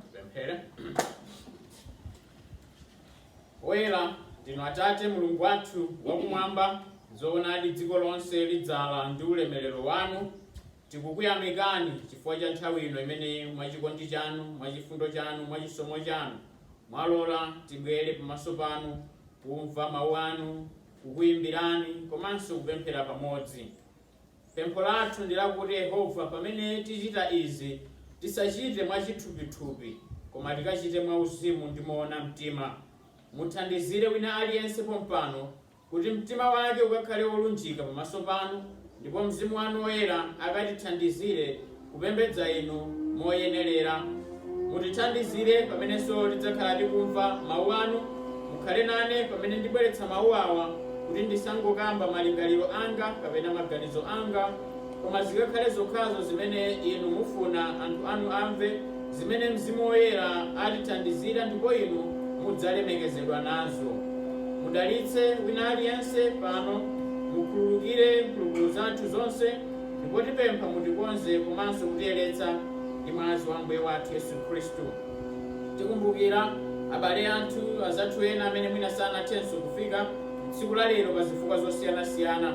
Tipemphere. Oyera ndinu Atate Mulungu wathu wakumwamba, zoonadi dziko lonse lidzala ndi ulemerero wanu. Tikukuyamikani chifukwa cha nthawi ino imene mwachikondi chanu, mwachifundo chanu, mwachisomo chanu mwalola tibwere pamaso panu kumva mawu anu, kukuyimbirani komanso kupemphera pamodzi. Pempho lathu ndi lakuti Yehova pamene tichita izi tisachite mwachithupithupi koma tikachite mwauzimu ndi moona mtima. Muthandizire wina aliyense pompano kuti mtima wake ukakhale wolunjika pamaso panu ndipo Mzimu wanu Woyera akatithandizire kupembedza Inu moyenerera. Mutithandizire pamenenso tidzakhala tikumva Mau anu. Mukhale nane pamene ndibweretsa mau awa kuti ndisangokamba malingaliro anga kapena maganizo anga, koma zikakhale zokhazo zimene Inu mufuna anthu anu amve, zimene Mzimu Woyera atithandizira ndipo Inu mudzalemekezedwa nazo. Mudalitse wina aliyense pano. Mukhululukire mphulupulu zathu zonse. Ndipo tipempha mutikonze komanso kutiyeretsa ndi mwazi wa Ambuye wathu Yesu Khristu. Tikumbukira abale athu, azathu ena amene mwina sanathenso kufika tsiku la lero pa zifukwa zosiyanasiyana.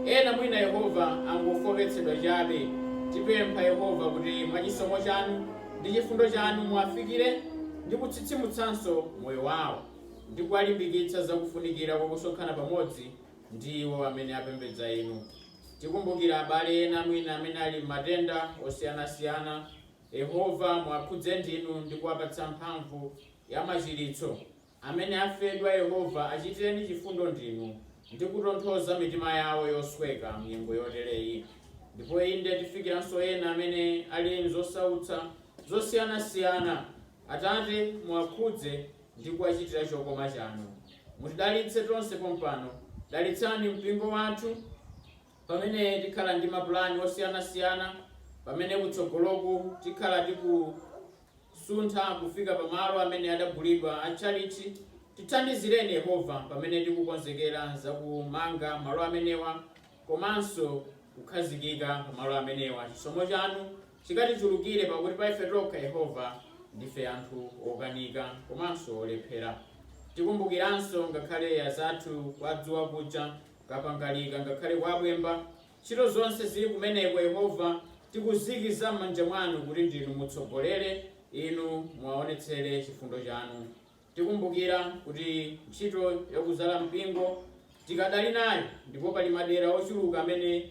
Ena mwina Yehova angofooketsedwa chabe. Tipempha Yehova kuti mwa chisomo chanu ndi chifundo chanu muwafikire ndi kutsitsimutsanso moyo wao ndi kuwalimbikitsa za kufunikira kwa kusonkhana pamodzi ndi iwo amene apembedza Inu. Tikumbukira abale ena mwina amene ali m'matenda osiyanasiyana. Yehova, muwakhudze ndinu ndi kuwapatsa mphamvu ya machiritso. Amene afedwa, Yehova, achitireni chifundo ndinu ndi kutonthoza mitima yawo yosweka m'nyengo yotereyi. Ndipo inde, tifikiranso ena amene ali m'zosautsa zosiyanasiyana. Atate, muwakhudze. ndi kuwachitira chokoma chanu. Mutidalitse tonse pompano. Dalitsani mpingo wathu pamene tikhala ndi mapulani osiyanasiyana, pamene kutsogoloku tikhala tikusuntha kufika pa malo amene adagulidwa a tchalitchi. Tithandizireni, Yehova, pamene tikukonzekera za kumanga malo amenewa komanso kukhazikika pamalo amenewa. Chisomo chanu chikatichulukire, pakuti pa ife tokha, Yehova, ndife anthu okanika komanso olephera. Tikumbukiranso ngakhale azathu kwa Dzuwa kuja, Kapangalika ngakhale kwa Bwemba, ntchito zonse zili kumeneko, Yehova, tikuziikiza m'manja mwanu kuti ndinu mutsogolere, inu muwaonetsere chifundo chanu. Tikumbukira kuti ntchito yakudzala mpingo tikadali nayo ndipo pali madera ochuluka amene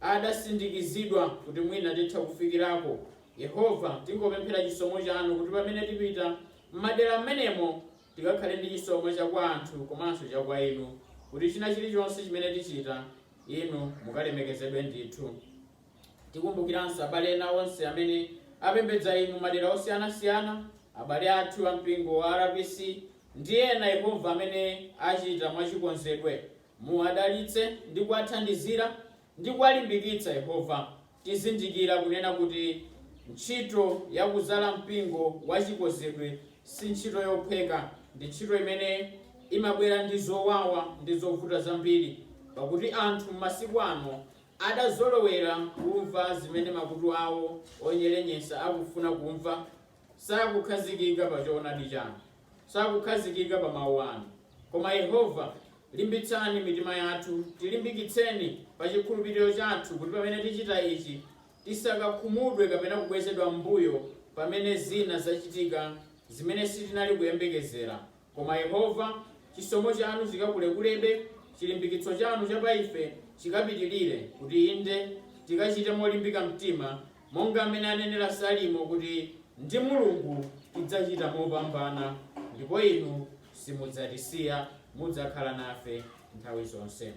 adasindikizidwa kuti mwina titha kufikirako. Yehova, tingopemphera chisomo chanu kuti pamene tipita m'madera m'menemo tikakhale ndi chisomo cha kwa anthu komanso cha kwa inu kuti china chilichonse chimene tichita Inu mukalemekezedwe ndithu. Tikumbukiranso abale ena onse amene apembedza inu madera osiyanasiyana, abale athu a mpingo wa RPC ndi ena, Yehova, amene achita mwachikonzedwe. Muwadalitse ndi kuwathandizira ndi kuwalimbikitsa, Yehova. Tizindikira kunena kuti ntchito ya kuzala mpingo wa chikonzedwe si ntchito yophweka. Ndi ntchito imene imabwera ndi zowawa ndi zovuta zambiri, pakuti anthu m'masiku ano Adazolowera kumva zimene makutu awo onyerenyesa akufuna kumva, sakukhazikika pa choonadi chanu, sakukhazikika pa mawu anu. Koma, Yehova, limbitsani mitima yathu, tilimbikitseni pa chikhulupiriro chathu, kuti pamene tichita ichi, tisakakhumudwe kapena kubwezedwa m'mbuyo pamene zina zachitika zimene sitinali kuyembekezera. Koma Yehova, chisomo chanu chikakulekulebe, chilimbikitso chanu cha pa ife chikapitilire, kuti inde tikachite molimbika mtima, monga m'mene anenera Salimo kuti, Ndi Mulungu tidzachita mopambana, ndipo Inu simudzatisiya, mudzakhala nafe nthawi zonse.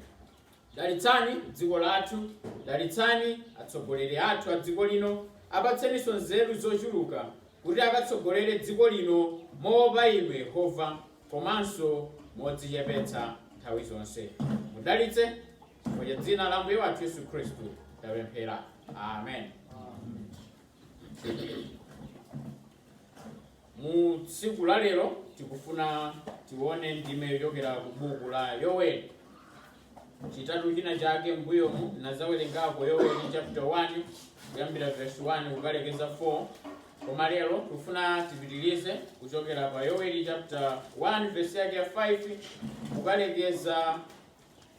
Dalitsani dziko lathu, dalitsani atsogoleri athu a dziko lino, apatseninso nzeru zochuluka kuti akatsogolere dziko lino moopa Inu Yehova komanso modzichepetsa nthawi zonse. Mudalitse, chifukwa cha dzina la Ambuye wathu Yesu Khristu tapemphera. Amen. Mu tsiku la lero tikufuna tione ndime yochokera ku buku la Yoweli. Chitatu china chake mbuyomu ndinadzawerengako Yoweli chapter 1 kuyambira verse 1 kukalekeza 4. Koma lero tikufuna tipitirize kuchokera pa Yoweli chapter 1 verse yake ya 5 kukalekeza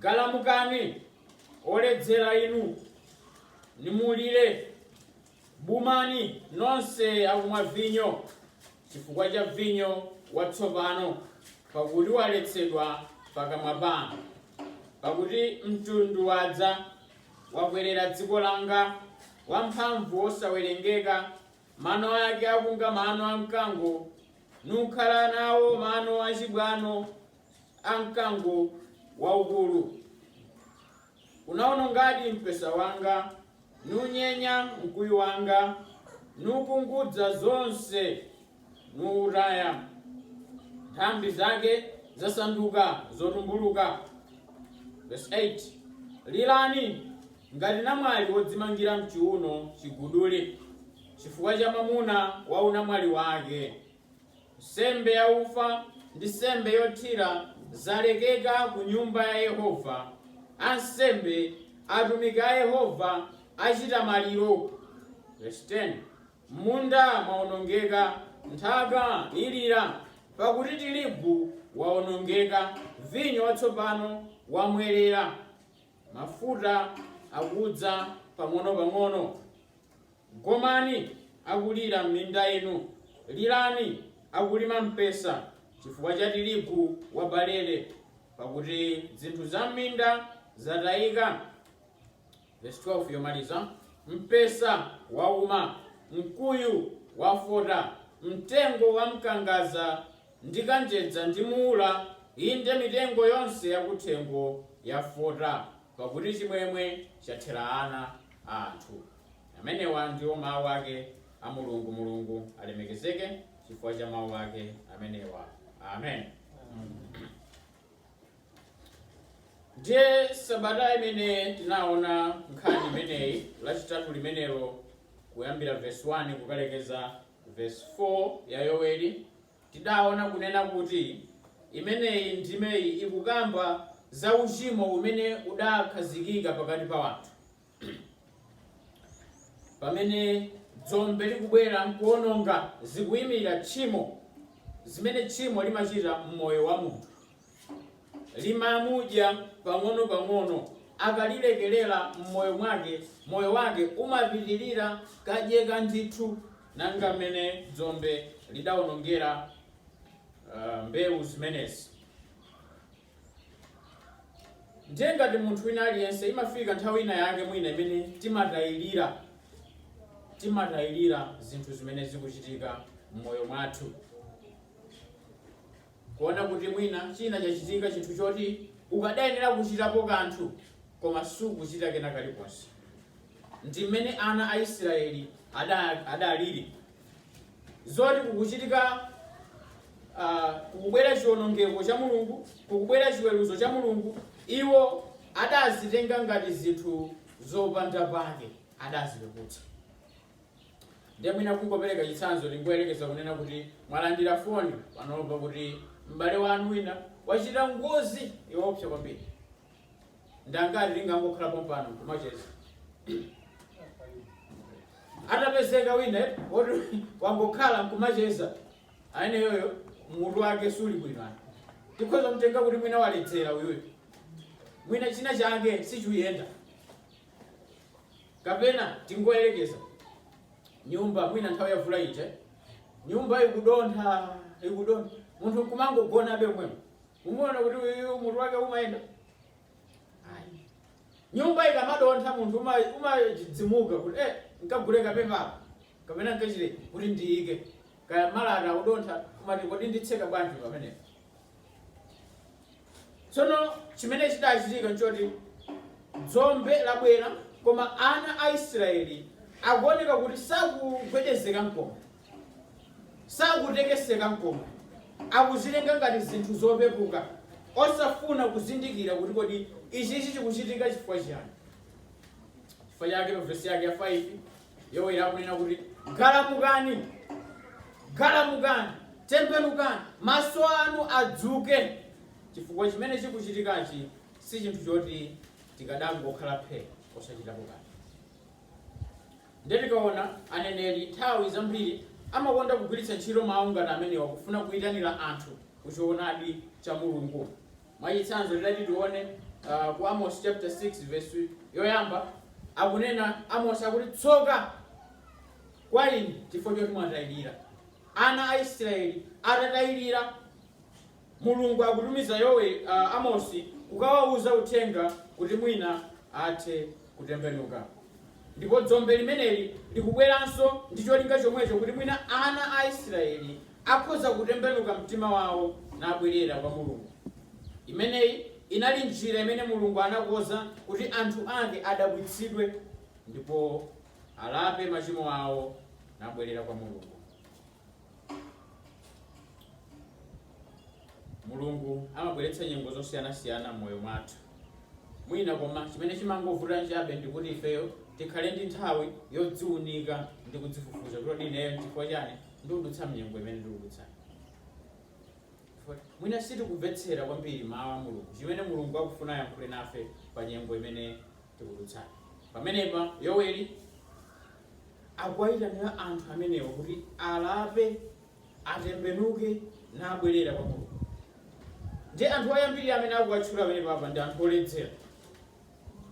Galamukani! Oledzera inu, nimulire, bumani, nonse akumwa vinyo, chifukwa cha vinyo watsopano, pakuti waletsedwa pakamwa panu. Pakuti mtundu wadza, wakwerera dziko langa, wamphamvu wosawerengeka, mano ake akunga mano a mkango, nukhala nawo mano achibwano a mkango waukulu. Unaonongadi mpesa wanga, nunyenya mkuyu wanga, nukungudza zonse, nuutaya. Nthambi zake zasanduka zotumbuluka. Verse 8. Lirani ngati namwali wodzimangira mchiuno chiguduli chifukwa cha mwamuna wa unamwali wake. Nsembe yaufa ndi nsembe yothira zalekeka ku Nyumba ya Yehova, ansembe, atumiki a Yehova, achita maliro. Verse 10, M'munda mwaonongeka, nthaka ilira, pakuti tirigu waonongeka, vinyo watsopano wamwelera, mafuta akudza pang'onopang'ono. Gomani akulira m'minda inu, lirani akulima mpesa chifukwa cha tirigu wa barele, pakuti zinthu za m'minda zatayika. Verse 12 yomaliza Mpesa wauma, mkuyu wafota, mtengo wa mkangaza ndi kanjedza ndi muula, inde mitengo yonse yakuthengo yafota, pakuti chimwemwe chathera ana a anthu. Amenewa ndiwo mawu ake a Mulungu. Mulungu alemekezeke chifukwa cha mawu ake amenewa. Amen. Ndiye sabata imene tinaona nkhani imeneyi lachitatu limenelo kuyambira verse 1 kukalekeza verse 4 ya Yoweli tidaona kunena kuti imeneyi ndimeyi ikukamba za uchimo umene udakhazikika pakati pa wanthu pamene dzombe likubwera nkuononga zikuyimira tchimo zimene tchimo limachita mmoyo wa munthu limamudya pang'ono pang'ono akalilekelera mmoyo mwake moyo wake umapitirira kudyeka ndithu monga mmene dzombe lidaonongera uh, mbewu zimenezi Ndiye ngati munthu wina aliyense, imafika nthawi ina yake mwina imene timatayirira, timatayirira zinthu zimene zikuchitika m'moyo mwathu. Kuona kuti mwina china chachitika chinthu choti ukadayenera kuchitapo kanthu koma sukuchita kena kalikonse. Ndi mmene ana a Israeli ada- adaliri. zoti kukuchitika ah, kukubwera chiwonongeko cha mulungu kukubwera chiweruzo cha mulungu iwo adazitenga ngati zinthu zopanda pake adazipeputsa ndiye mwina kungopereka chitsanzo tingoyerekeza kunena kuti mwalandira foni panopa kuti m'bale wanu wina wachita ngozi yoopsa kwambiri Ndi angati tingangokhala pompano nkumacheza? Atapezeka wina woti wangokhala nkumacheza, ayeneyoyo mutu wake suli bwino. Tikhoza mtenga kuti mwina waledzera uyuyu. Mwina china chake sichuyenda. Kapena tingoyerekeza nyumba mwina nthawi ya mvula ija nyumba ikudontha ikudontha munthu nkumangogonabe mwemwe Mumuona kuti uyuyu mutu wake umayenda? Ayi. Nyumba ikamadontha munthu umachidzimuka kuti eh, nkagule kapepala kapena nkachire kuti ndiyike kaya malata akudontha kumati kodi nditseka bwanji pamenepo. Tsono chimene chidachitika nchoti dzombe labwera koma ana a Israeli akuoneka kuti sakugwedezeka nkomwe. Sakutekeseka nkomwe. Akuzitenga ngati zinthu zopepuka, osafuna kuzindikira kuti kodi ichichi chikuchitika chifukwa chiyani. Chifukwa chake pa vesi yake ya 5 Yoweli akunena kuti galamukani, galamukani, tembenukani, maso anu adzuke, chifukwa chimene chikuchitikachi si chinthu choti tikadangokhala phe osachitapo kanthu. Ndiye tikaona, aneneri nthawi zambiri amakonda kugwiritsa ntchito mawu ngati amenewa kufuna kuitanira anthu ku choonadi cha Mulungu. Mwachitsanzo, titati tione uh, ku Amos chapter 6 verse yoyamba akunena Amos akuti tsoka kwa inu chifukwa choti mwatayirira. Ana a Israeli atatayirira Mulungu akutumiza Yoweli, a, Amosi kukawauza uthenga kuti mwina athe kutembenuka. Ndipo dzombe limeneli likubweranso ndi cholinga chomwecho, kuti mwina ana a Israeli akhoza kutembenuka mtima wawo nabwerera kwa Mulungu. Imeneyi inali njira imene Mulungu anakonza kuti anthu ake adabwitsidwe ndipo alape machimo awo nabwerera kwa Mulungu. mulungu amabweretsa nyengo zosiyanasiyana m'moyo mwathu mwina koma chimene chimangovuta nchabe ndikuti ifeyo tikhale ndi nthawi yodziunika ndi kudzifufuza kuti ineyo chifukwa chani ndikudutsa mnyengo imene ndikudutsayi mwina sitikumvetsera kwambiri mawu a mulungu chimene mulungu akufuna ayankhule nafe pa nyengo imene tikudutsayi pamenepa yoweli akuwaitanira anthu amenewa kuti alape, atembenuke, nabwerera kwa Mulungu. Ndi anthu oyambirira amene akuwatchula pamenepa apa ndi anthu oledzera.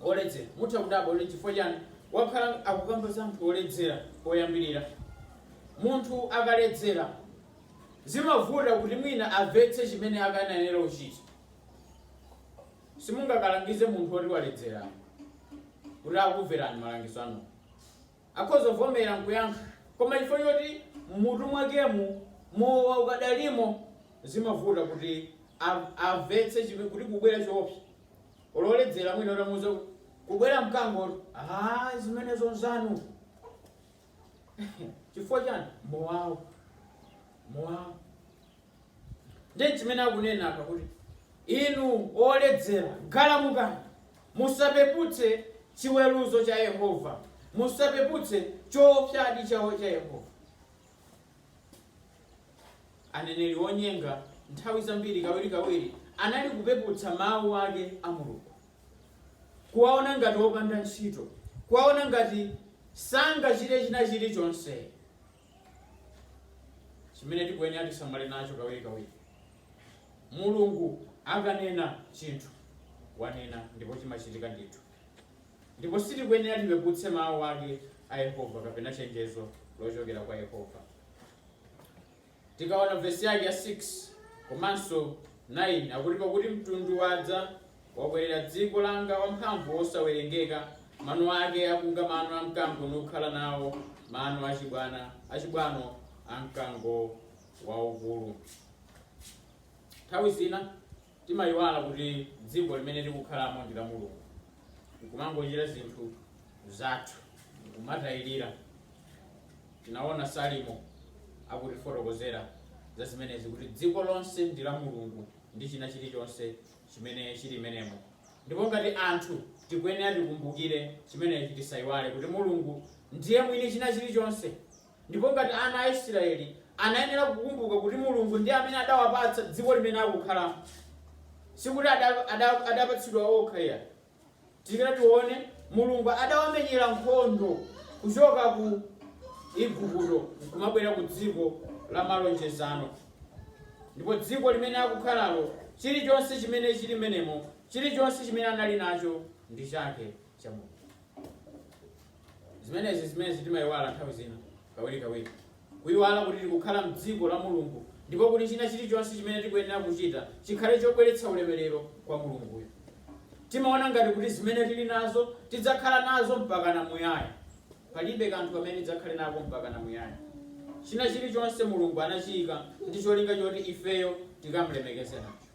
Oledzera. Mutha kudabwa kuti chifukwa chani wakhala akukamba za anthu oledzera oyambirira. Munthu akaledzera zimavuta kuti mwina amvetse chimene akanayenera kuchita. Simungakalangize munthu woti waledzera kuti akumverani malangizo anu. Akhoza kuvomera n'kuyankha, koma chifukwa choti m'mutu mwakemu mowa ukadalimo, zimavuta kuti amvetse kuti kukubwera choopsa. Olo woledzera mwina utamuuza kuti, Kukubwera mkango, Aaa zimenezo n'zanu! Chifukwa chiyani? Mowawo. Mowawo. Ndi chimene akunena apa, kuti, Inu oledzera, galamukani! Musapeputse chiweruzo cha Yehova. Musapeputse chowopsyadi chawo cha Yehova. Aneneri onyenga nthawi zambiri, kawirikawiri, anali kupeputsa Mawu ake a Mulungu, kuwawona ngati opanda ntchito, kuwawona ngati sangachite china chirichonse. chimene tikuyenera tisamale nacho kawirikawiri mulungu akanena chinthu wanena ndipo chimachitika ndithu ndipo sitikuyenera tipeputse mawu ake a yehova kapena chenjezo lochokera kwa yehova tikaona vesi yake ya 6 komanso 9 akuti pakuti mtundu wadza Wakwerera dziko langa wamphamvu wosawerengeka, mano ake akunga mano a mkango nukhala nawo mano achibwano a mkango waukulu. Nthawi zina timayiwala kuti dziko limene tikukhalamo ndi la Mulungu, nkumangochita zinthu zathu, nkumatayirira. Tinaona Salimo akutifotokozera za zimenezi kuti dziko lonse ndi la Mulungu ndi china chilichonse chimene chili mmenemo. Ndipo ngati anthu, tikuyenera tikumbukire chimenechi, tisaiwale kuti Mulungu ndiye mwini china chilichonse. Ndipo ngati ana a Israeli anayenera kukumbuka kuti Mulungu ndiye amene adawapatsa dziko limene akukhalamo, sikuti ada, ada, adapatsidwa okha iyayi. Tikati tione, Mulungu adawamenyera nkhondo kuchoka ku Igupto kumabwera ku dziko la malonjezano. Ndipo dziko limene akukhalalo, chilichonse chimene chili mmenemo, chilichonse chimene anali nacho ndi chake cha Mulungu. Zimenezi zimene timayiwala nthawi zina kawirikawiri. N'kuiwala kuti tikukhala m'dziko la Mulungu ndipo kuti china chilichonse chimene tikuyenera kuchita chikhale chobweretsa ulemerero kwa Mulunguyo. Timaona ngati kuti zimene tili nazo tidzakhala nazo mpakana muyaya. Palibe kanthu kamene tidzakhale nako mpakana muyaya. China chilichonse Mulungu anachiika ndi cholinga choti ifeyo tikam'lemekeze nacho.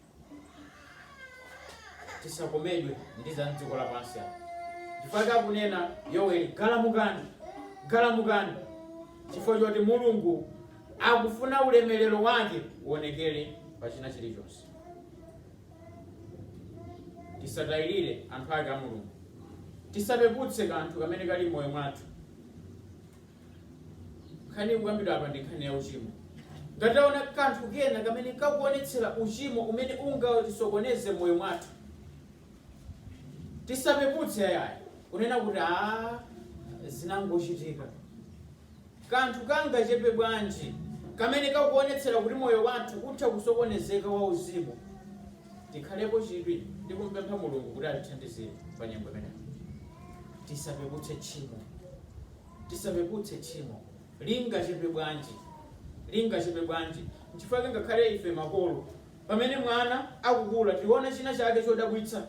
tisakomedwe ndi za mdziko lapansi apa chifukwa akunena yoweli galamukani galamukani chifukwa choti mulungu akufuna ulemerero wake uonekere pa china chilichonse tisatayirire anthu ake a mulungu tisapeputse kanthu kamene kali mmoyo mwathu Nkhani ikukambidwa apa ndi nkhani ya uchimo. Ngati taona kanthu kena kamene kakuonetsera uchimo umene ungatisokoneze m'moyo mwathu, tisapeputse yayi kunena kuti aa, zinangochitika. Kanthu kangachepe bwanji kamene kakuonetsera kuti moyo wathu utha kusokonezeka wauzimu, tikhalepo chidwi ndi kumpempha Mulungu kuti atithandizire pa nyengo imeneyo. Tisapeputse tchimo. tisapeputse tchimo, lingachepe bwanji, lingachepe bwanji. Nchifukwa chake ngakhale ife makolo, pamene mwana akukula, tiona china chake chodabwitsa,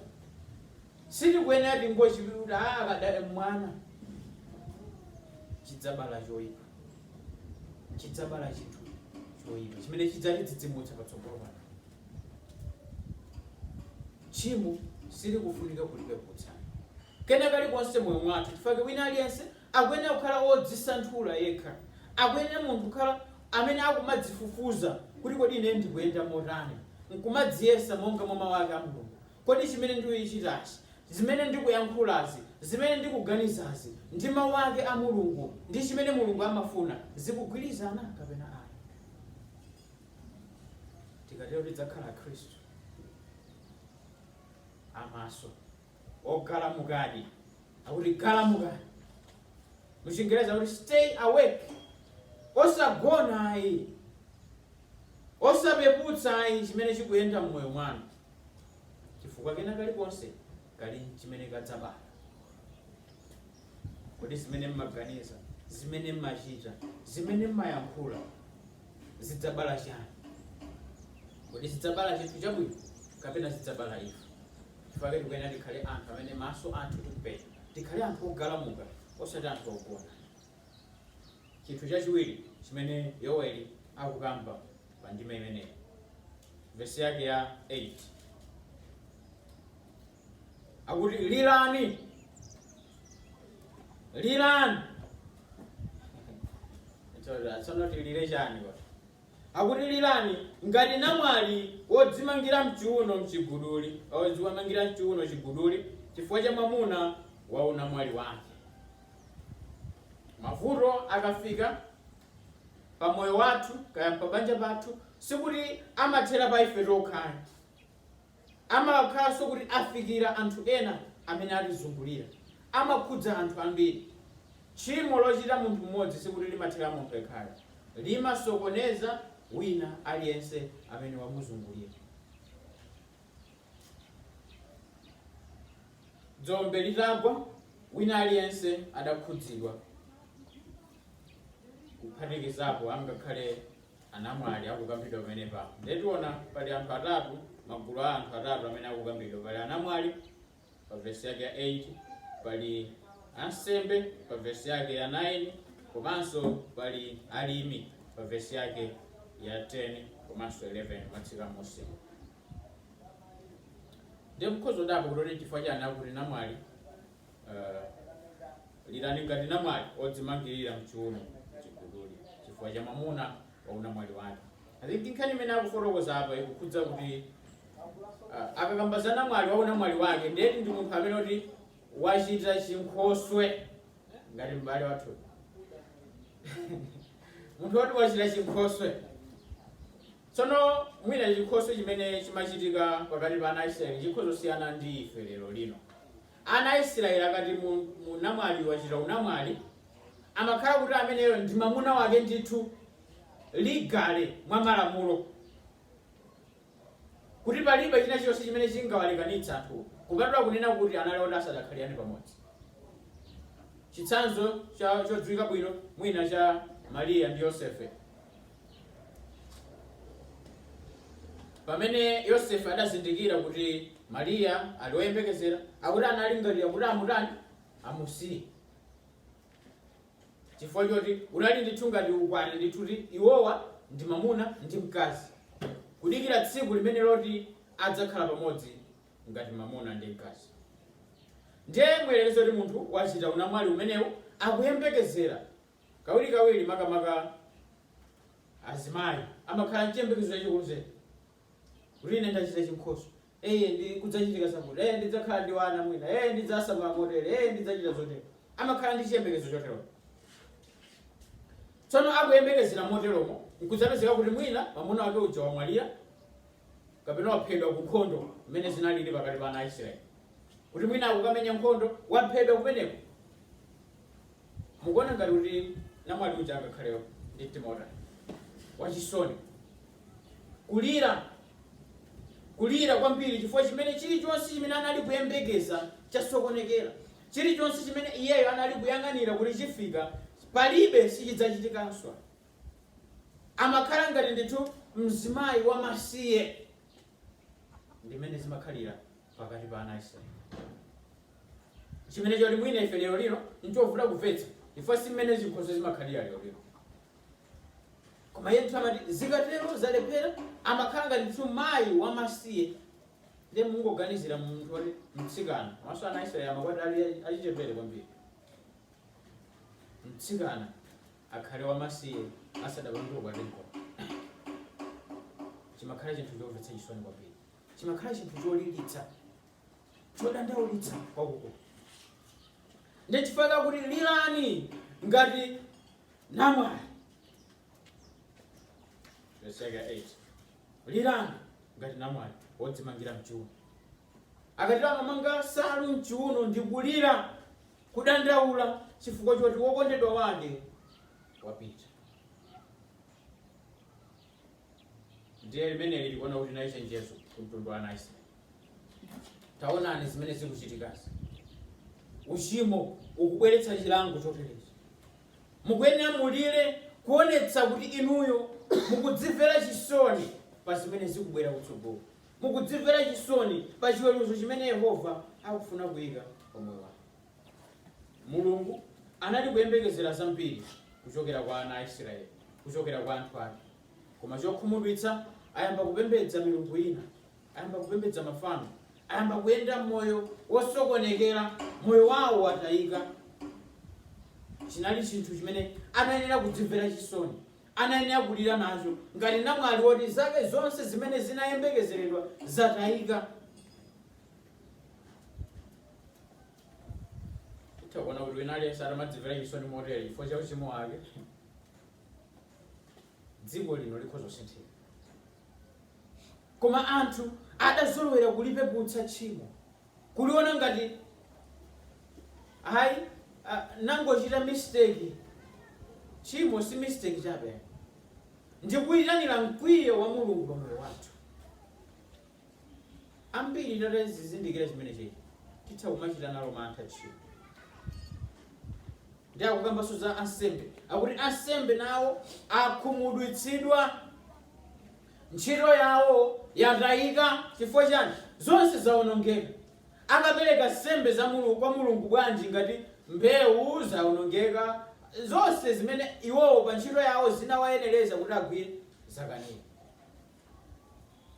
sitikuyenera tingochipirira kuti ah, akadali mwana, chidzabala choipa, chidzabala chinthu choipa chimene chidzatidzidzimutsa patsogolo pano. Tchimo silikufunika kulipeputsa. kena kalikonse mmoyo mwathu, chifukwa wina aliyense akuyenera kukhala wodzisanthula yekha. Akuyenera munthu kukhala amene akumadzifufuza kuti kodi ine ndikuyenda motani, nkumadziyesa monga mwa Mawu ake a Mulungu. Kodi chimene ndikuchitachi, zimene ndikuyankhulazi, zimene ndikuganizazi ndi Mawu ake a Mulungu, ndi chimene Mulungu amafuna, zikugwirizana kapena ayi? Tikatero tidzakhala Akhristu a maso. Ogalamukadi. Akuti galamukani. Muchingerezi akuti stay awake. Osagona ayi. Osapeputsa ayi chimene chikuyenda mmoyo mwanu. Chifukwa kena kalikonse kali chimene kadzabala. Kodi zimene mmaganiza, zimene mmachita, zimene mmayankhula zidzabala chani? Kodi zidzabala chinthu chabwino kapena zidzabala imfa? Chifukwa chake tikuyenera tikhale anthu amene maso athu tikupenya. Tikhale anthu ogalamuka osati anthu ogona. Chinthu chachiwiri chimene Yoweli akukamba pa ndime imeneyi, vesi yake ya 8, akuti lirani, lirani. Tsono tilire chani kodi? Akuti, Lirani ngati namwali wodzimangira m'chiuno m'chiguduli, wodzimangira m'chiuno chiguduli chifukwa cha mwamuna wa unamwali wake. Mavuto akafika pa moyo wathu kaya pa banja pathu, sikuti amathera pa ife tokha ayi. Amakhalanso kuti afikira anthu ena amene atizungulira. Amakhudza anthu ambiri. Tchimo lochita munthu mmodzi sikuti limathera munthu yekhayo. Limasokoneza wina aliyense amene wamuzungulira. Dzombe litagwa, wina aliyense adakhudzidwa kuphatikizapo angakhale anamwali akukambidwa pamenepa. Ndiye tiona pali anthu atatu, magulu a anthu atatu amene akukambidwa. Pali anamwali pa vesi yake ya 8, pali ansembe pa vesi yake ya 9, komanso pali alimi pa vesi yake ya 10 komanso 11 kumatsika m'munsi. Ndiye mukhoza kudabwa kuti chifukwa chani akuti namwali Uh, lirani ngati namwali odzimangirira mchiuno chiguduli chifukwa cha mwamuna wa unamwali wake i think nkhani imene akufotokoza apa ikukhudza kuti uh, akakamba za namwali wa unamwali wake ndekuti ndi munthu amene kuti wachita chinkhoswe ngati m'bale wathu munthu woti wachita chinkhoswe Tsono, mwina chinkhoswe chimene chimachitika pakati pa ana a Israeli chikhoza kusiyana ndi ife lero lino. Ana a Israeli akati mu, mu, namwali wachita unamwali, amakhala kuti ameneyo ndi mamuna wake ndithu, legally, mwa malamulo, kuti palibe china chonse chimene chingawalekanitse anthuwo, kupatula kunena kuti anali oti asadakhaliane pamodzi. Chitsanzo cha chodziwika bwino mwina cha Maria ndi Yosefe. pamene yosefe adazindikira kuti mariya ali woyembekezera akuti analingalira kuti amutani amusiye chifukwa choti unali ndithu ngati ukwati ndithu kuti iwowa ndi mamuna ndi mkazi kudikira tsiku limene loti adzakhala pamodzi ngati mamuna ndi mkazi ndiye muyerekeze kuti munthu wachita unamwali umenewu akuyembekezera Kawirikawiri, makamaka azimayi amakhala nchiyembekezo chachikulu zedi kuti, Ine ndachita chinkhoswe. Ee, ndiye kudzachitika zakuti. Ee, ndidzakhala ndi wana mwina. Ee, ndidzasamala motere. Ee, ndidzachita zotere. Amakhala ndi chiyembekezo choterocho. Tsono akuyembekezera moteromo, nkudzapezeka kuti mwina mwamuna wake uja wamwalira kapena waphedwa ku nkhondo mmene zinalili pakati pa ana a Israeli, kuti mwina akukamenya nkhondo, waphedwa kumeneko. Mukuona ngati kuti namwali uja angakhale ndi mtima wotani? Wachisoni, kulira, kulira kwambiri chifukwa chimene chirichonse chimene anali kuyembekeza chasokonekera. Chirichonse chimene iyeyo anali kuyang'anira kuti chifika, palibe, sichidzachitikanso. Amakhala ngati ndithu mzimayi wamasiye. Ndi mmene zimakhalira pakati pa ana a Israeli. Chimene choti mwina ife lero lino nchovuta kumvetsa chifukwa si mmene zinthuzo zimakhalira lero lino. Koma iye ndithu amati zikatero zalephera amakhala ngati ndithu mayi wamasiye ndiye mungoganizira munthu woti mtsikana maso ana a Israeli amakwatiwa ali achichepere kwambiri. Mtsikana akhale wamasiye asadapange ukwati nkomwe. Chimakhala chinthu chomvetsa chisoni kwambiri. chimakhala chinthu cholilitsa chodandaulitsa kwakukulu ndi chifukwa chake akuti lirani ngati namwali verse 8 lirani ngati namwali wodzimangira mchiuno akati amamanga nsalu mchiuno ndi kulira kudandaula chifukwa choti wokondedwa wake wapita ndiye limeneli likuona kuti nali chenjezo ku mtundu wa ana a Israeli taonani zimene zikuchitikazi uchimo ukubweretsa chilango choterechi mukuyenera mulire kuonetsa kuti inuyo mukudzimvera chisoni pa zimene zikubwera kutsogolo mukudzimvera chisoni pa chiweruzo chimene yehova akufuna kuyika pa moyo wanu Mulungu anali kuyembekezera zambiri kuchokera kwa ana a Isiraeli, kuchokera kwa anthu ake. Koma chokhumudwitsa, ayamba kupembedza milungu ina, ayamba kupembedza mafano, ayamba kuyenda moyo wosokonekera, moyo wawo watayika. Chinali chinthu chimene anayenera kudzimvera chisoni, anayenera kulira nacho ngati namwali woti zake zonse zimene zinayembekezeredwa zatayika. titha kuona kuti wina aliyense atamadzimvera chisoni motere chifukwa cha uchimo wake dziko lino likhoza kusinthika koma anthu adazolowera kulipeputsa tchimo kuliona ngati ayi ah, nangochita mistake tchimo si mistake chabe ndikuyitanira mkwiyo wa mulungu pa moyo wathu ambiri tatazizindikira chimene chili titha kumachita nalo mantha tchimo ndi akukambanso za ansembe akuti ansembe nawo akhumudwitsidwa ntchito yawo yatayika chifukwa chani zonse zawonongeka akapereka nsembe za mulungu kwa mulungu bwanji ngati mbewu zawonongeka zonse zimene iwowo pa ntchito yawo zinawayenereza kuti agwire zakanika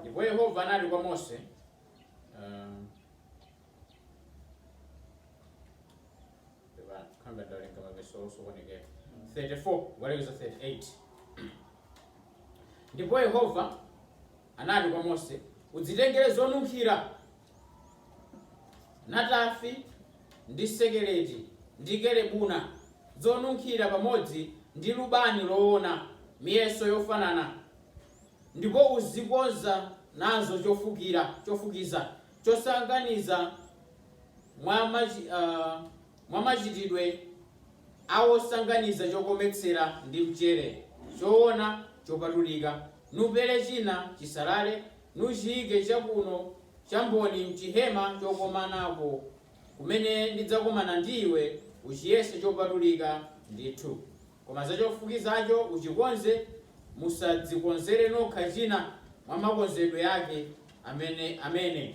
ndipo yehova anati kwa mose um, Eba, kanga ndawerenga mavesi osokonekera 34 kukalekeza 38 ndipo yehova anati kwa mose udzitengere zonunkhira natafi, ndi sekeleti, ndi kelebuna, zonunkhira pamodzi ndi lubani loona, miyeso yofanana, ndipo uzikonza nazo chofukira, chofukiza, chosanganiza mwa mwa machitidwe a wosanganiza chokometsera ndi mchere, choona chopatulika, nupere china chisalale. nuchiike chakuno cha mboni m'chihema chokomanako, kumene ndidzakomana ndi iwe, uchiyese chopatulika ndithu, koma za chofukizacho uchikonze, musadzikonzere nokha china mwa makonzedwe yake amene.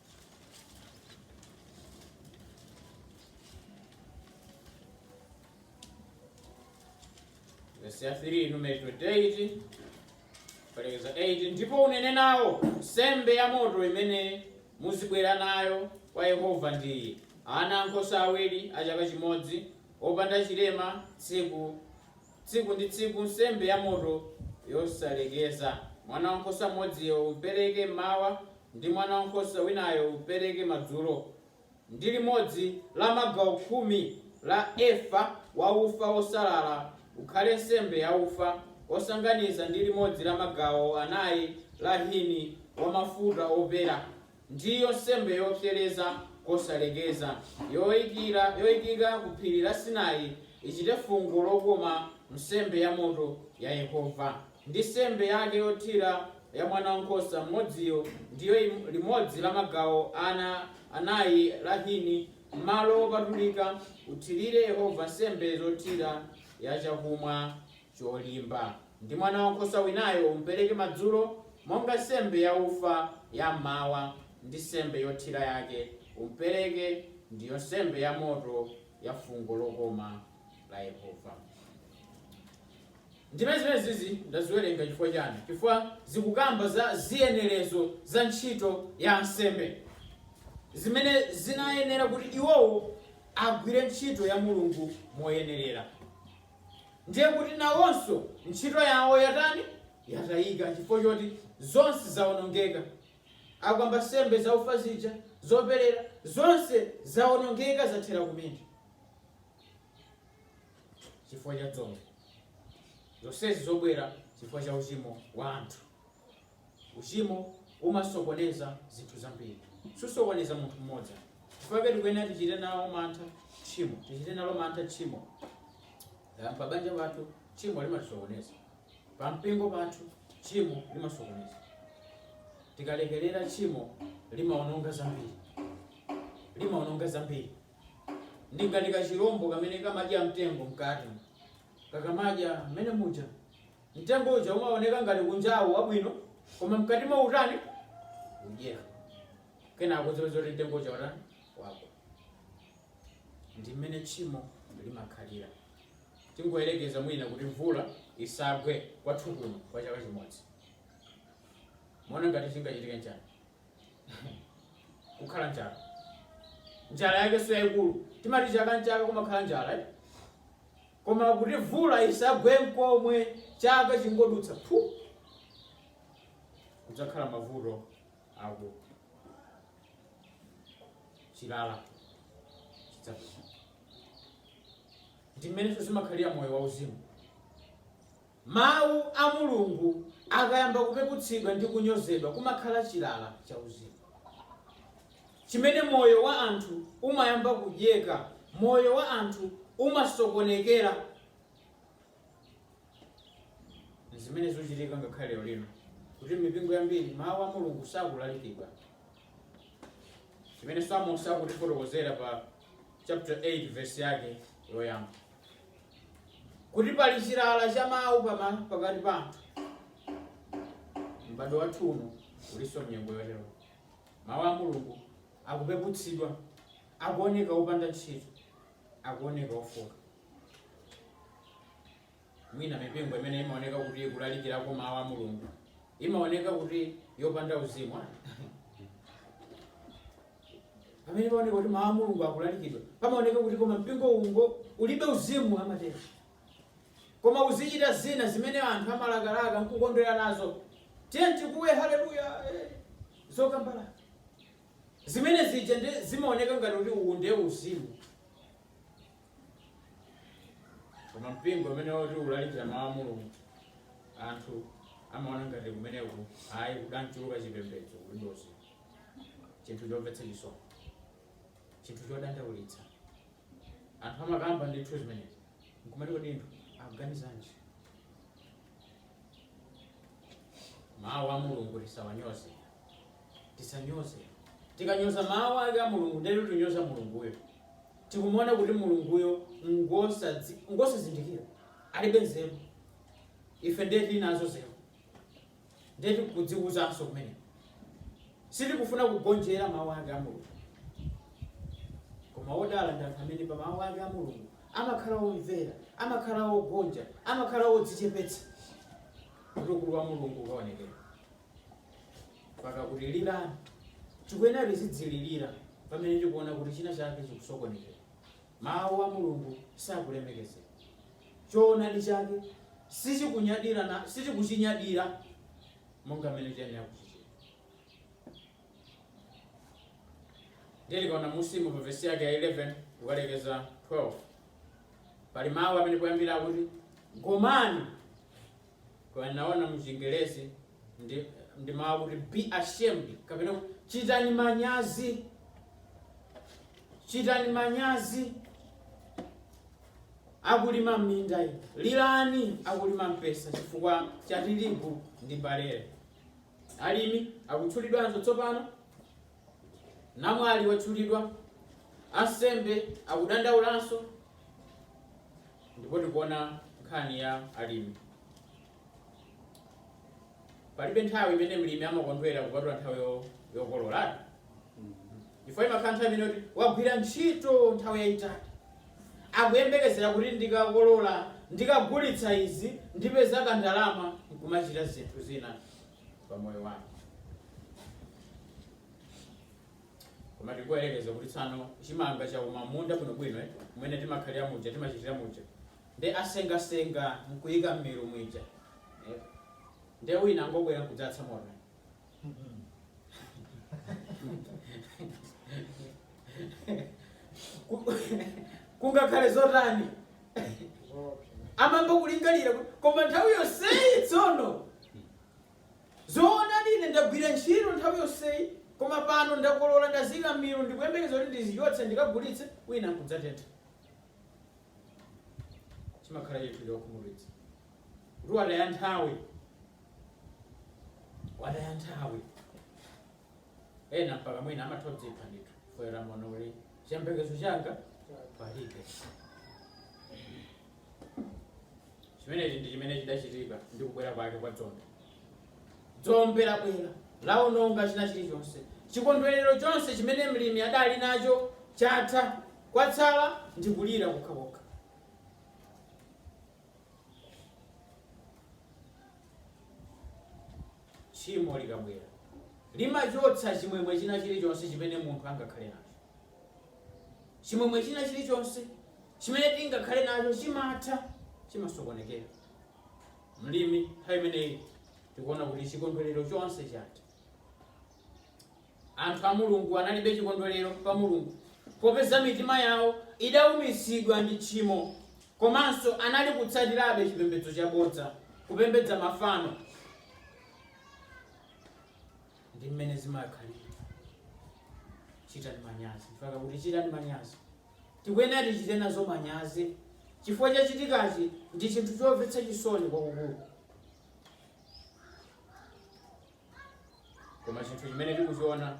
vesi ya 3 numeri 28 kukalekeza 8 ndipo unene nawo nsembe ya moto imene muzibwera nayo kwa yehova ndi iyi ana ankhosa awiri a chaka chimodzi opanda chilema tsiku tsiku ndi tsiku nsembe ya moto yosalekeza mwana wankhosa mmodziyo upereke mmawa ndi mwana wankhosa winayo upereke madzulo, ndi limodzi la magawo khumi la efa wa ufa wosalala ukhale nsembe yaufa wosanganiza, ndi limodzi la magawo anai la hini wa mafuta opera, ndiyo nsembe yopsereza kosalekeza, yoikika ku phiri la Sinai, ichite fungo lokoma nsembe yamoto ya Yehova. Ndi nsembe yake yothira ya mwana wa nkhosa mmodziyo ndiyo limodzi la magawo anai la hini m'malo opatulika, uthirire Yehova nsembe zothira ya chakumwa cholimba, ndi mwana wa nkhosa winayo umpereke madzulo monga nsembe yaufa ya m'mawa, ndi nsembe yothira yake umpereke, ndiyo nsembe yamoto ya fungo lokoma la Yehova. Ndime zimenezizi ndaziwerenga chifukwa chani? Chifukwa zikukamba za ziyenelezo za ntchito ya ansembe zimene zinayenera kuti iwowo agwire ntchito ya Mulungu moyenelera. Ndiye kuti nawonso ntchito yawo yatani? Yatayika chifukwa choti zonse zawonongeka. Akukamba nsembe za ufa zija, zoperera, zonse zawonongeka zathera kumene. chifukwa cha dzombe zonsezi zobwera chifukwa cha uchimo wa anthu uchimo umasokoneza zinthu zambiri susokoneza munthu mmodzi chifukwa tikuyenera tichite nawo mantha tchimo tichite nalo mantha tchimo pa banja pathu tchimo limatisokoneza pa mpingo pathu tchimo limasokoneza tikalekerera tchimo limaononga zambiri limaononga zambiri ndi ngati kachilombo kamene kamadya mtengo mkati. Kakamadya mmene muja, mtengo uja umaoneka ngati kunjawo wabwino, koma mkatimu utani udyeka. Kenako udzapeza kuti mtengo uja watani wagwa. Ndi mmene tchimo limakhalira. Tingoyerekeza mwina kuti mvula isagwe kwathu kuno kwa chaka chimodzi. Muona ngati chingachitika nchani? kukhala njala njala yake so yayikulu timati chaka nchaka kumakhala njala eh? koma kuti mvula isagwe mkomwe chaka chingodutsa phu kudzakhala mavuto aakulu chilala chidzapita ndi mmenenso zimakhalira moyo wauzimu Mawu a Mulungu akayamba kupeputsidwa ndi kunyozedwa, kumakhala chilala chauzimu chimene moyo wa anthu umayamba kudyeka. Moyo wa anthu umasokonekera. N'zimene zikuchitika ngakhale lero lino kuti m'mipingo yambiri mawu a Mulungu sakulalikidwa. Chimenenso Amosi akutifotokozera pa chaputala 8 vesi yake loyamba. kuti pali chilala cha mawu pama- pakati pa anthu m'bado wathu uno ulinso mnyengo yotero mawu a mulungu akupeputsidwa akuoneka opanda ntchito akuoneka ofooka mwina mipingo imene imaoneka kuti ikulalikirako mawu a mulungu imaoneka kuti yopanda uzimu pamene paoneka kuti mawu a mulungu akulalikidwa pamaoneka kuti koma mpingo uno ulibe uzimu amatero koma uzichita zina zimene anthu amalakalaka nkukondwera nazo tiyeni tikuwe haleluya eh, zokambala zimene zija nzimaoneka ngati kuti uwu ndiye uzimu koma mpingo umene woti ulalikira mawu a mulungu anthu amaona ngati kumeneko ayi kudangochuluka chipembedzo kulibe uzimu chinthu chomvetsa chisoni chinthu chodandaulitsa anthu amakamba ndithu zimenezi nkumati kodi anthu akuganizanji mawu a mulungu tisawanyoze tisanyoze tikanyoza mawu ake a mulungu ndiye kuti tinyoza mulunguyo tikumuona kuti mulunguyo ngosadzi- ngosazindikira alibe nzeru ife ndiye tili nazo nzeru Ndiye tikudzikuzanso kumene. Sitikufuna kugonjera Mau ake a Mulungu. Koma odala ndi anthu amene pa Mau ake a Mulungu amakhala omvera, amakhala ogonja, amakhala odzichepetsa kuti ukulu wa Mulungu ukaonekere. Mpaka kuti lirani. Tikuyenera tizidzililira pamene tikuona kuti china chake chikusokonekera. Mawu a Mulungu sakulemekezedwa. Choonadi chake sichikunyadira, sichikuchinyadira monga mmene tiyenera kuchichita. Ndiye tikaona munsimu pa vesi yake ya 11 kukalekeza 12 pali mawu amene poyambira kuti gomani koma ndinaona mu chingerezi ndi, ndi mawu akuti be ashamed kapena kuti chitani manyazi chitani manyazi akulima m'minda inu lilani akulima mpesa chifukwa cha tirigu ndi barele alimi akutchulidwanso tsopano Namwali watchulidwa, ansembe akudandaulanso, ndipo tikuona nkhani ya alimi. Palibe nthawi imene mlimi amakondwera kupatula nthawi yo- yokolola chifukwa imakhala nthawi imene kuti wagwira ntchito nthawi yayitali akuyembekezera kuti ndikakolola ndikagulitsa izi ndipeza kandalama nkumachita zinthu zina pa moyo wake koma tikuyerekeza kuti tsano chimanga chauma m'munda bwinobwino eh, kumene timakhalira muja timachitira muja nde asengasenga nkuyika mmilu mwija eh, nde wina angobwera nkudzatsa moto kungakhale zotani amamba kulingalira koma nthawi yonseyi tsono zoona ine ndagwira ntchito nthawi yonseyi koma pano ndakolola ndazika mmilu ndikuyembekeza kuti ndizichotse ndikagulitse wina nkudzatentha chimakhala chinthu chokhumudwitsa kuti wataya nthawi wataya nthawi ena mpaka mwina amatha kudzipha ndithu foyera mono uli chiyembekezo changa palibe chimenechi ndi chimene chidachitika ndi kubwera kwake kwa dzombe dzombe labwera laononga china chilichonse chikondwerero chonse chimene mlimi adali nacho chatha kwatsala ndi kulira kokhakokha tchimo likabwera limachotsa chimwemwe china chilichonse chimene munthu angakhale nacho chimwemwe china chilichonse chimene tingakhale nacho chimatha chimasokonekera mlimi nthawi imeneyi tikuona kuti chikondwerero chonse chatha Anthu a Mulungu analibe chikondwerero pa Mulungu popeza mitima yawo idaumitsidwa ndi tchimo komanso anali kutsatirabe chipembedzo chabodza, kupembedza mafano. Ndi mmene zimakhalira. Chitani manyazi. Mpaka akuti chitani manyazi. Tikuyenera tichite nazo manyazi chifukwa chachitikachi ndi chinthu chomvetsa chisoni kwakukulu. koma chinthu chimene tikuchiona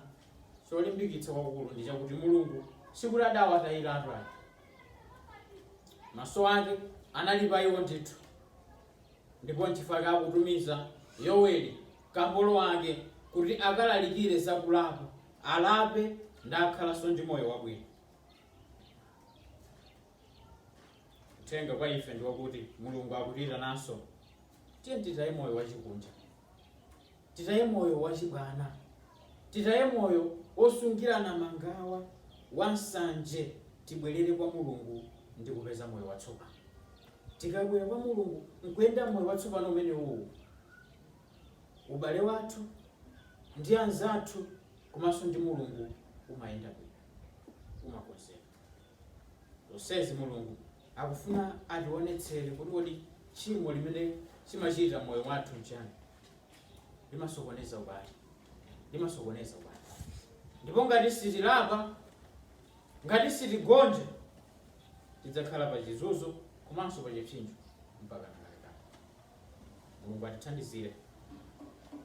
cholimbikitsa kwakukulu ndi chakuti mulungu sikuti adawatayira anthu ake maso ake anali pa iwo ndithu ndipo nchifukwa akutumiza yoweli kapolo wake kuti akalalikire za kulapa alape ndakhalanso ndi moyo wabwino uthenga kwa ife ndi wakuti mulungu akutiitananso tiyeni titaye moyo wachikunja titaye moyo wachibwana, titaye moyo wosungirana mangawa, wansanje, tibwerere kwa Mulungu ndi kupeza moyo watsopano. Tikabwera kwa Mulungu nkuyenda moyo watsopano umenewu, ubale wathu ndi anzathu komanso ndi Mulungu umayenda bwino, umakonzeka. zonsezi Mulungu akufuna ationetsere kuti kodi tchimo limene limachita mmoyo mwathu nchani? Limasokoneza ubale, limasokoneza ubale ndipo ngati sitilapa, ngati sitigonja tidzakhala pa chizunzo komanso pa chipsinjo mpaka nakalekale. Mulungu atithandizire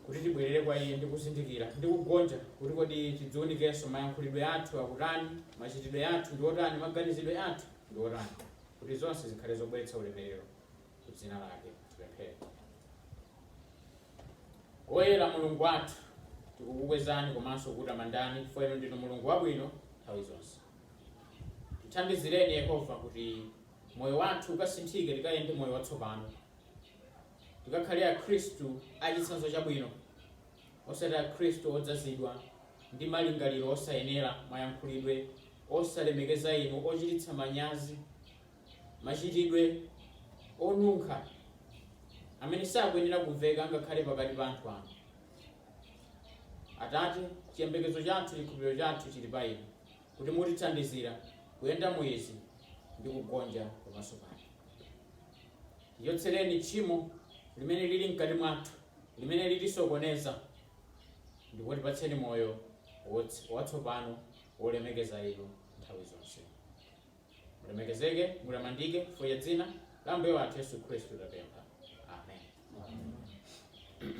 kuti tibwerere kwa iye ndi kuzindikira ndi kugonja kuti kodi tidziunikenso mayankhulidwe athu akutani, machitidwe athu ndi otani, maganizidwe athu ndi otani kuti zonse zikhale zobweretsa ulemerero ku dzina lake. Tipemphere. Woyera Mulungu wathu, tikukukwezani komanso kukutamandani chifukwa inu ndinu Mulungu wabwino nthawi zonse. Tithandizireni Yehova kuti moyo wathu ukasinthike, tikayende moyo watsopano, tikakhale Akhristu achitsanzo chabwino, osati Akhristu odzazidwa ndi malingaliro osayenera, mayankhulidwe osalemekeza inu, ochititsa manyazi, machitidwe onunkha amene sakuyenera kumveka ngakhale pakati pa anthu anu. Atate, chiyembekezo chathu, chikhulupiriro chathu chili pa inu. kuti mutithandizira kuyenda mu izi ndi kugonja pamaso panu. Tichotsereni tchimo limene lili mkati mwathu limene litisokoneza, ndipo tipatseni moyo watsopano wolemekeza inu nthawi zonse. Mulemekezeke, mulamandike chifukwa cha dzina la Ambuye wathu Yesu Khristu tapempha. Amen.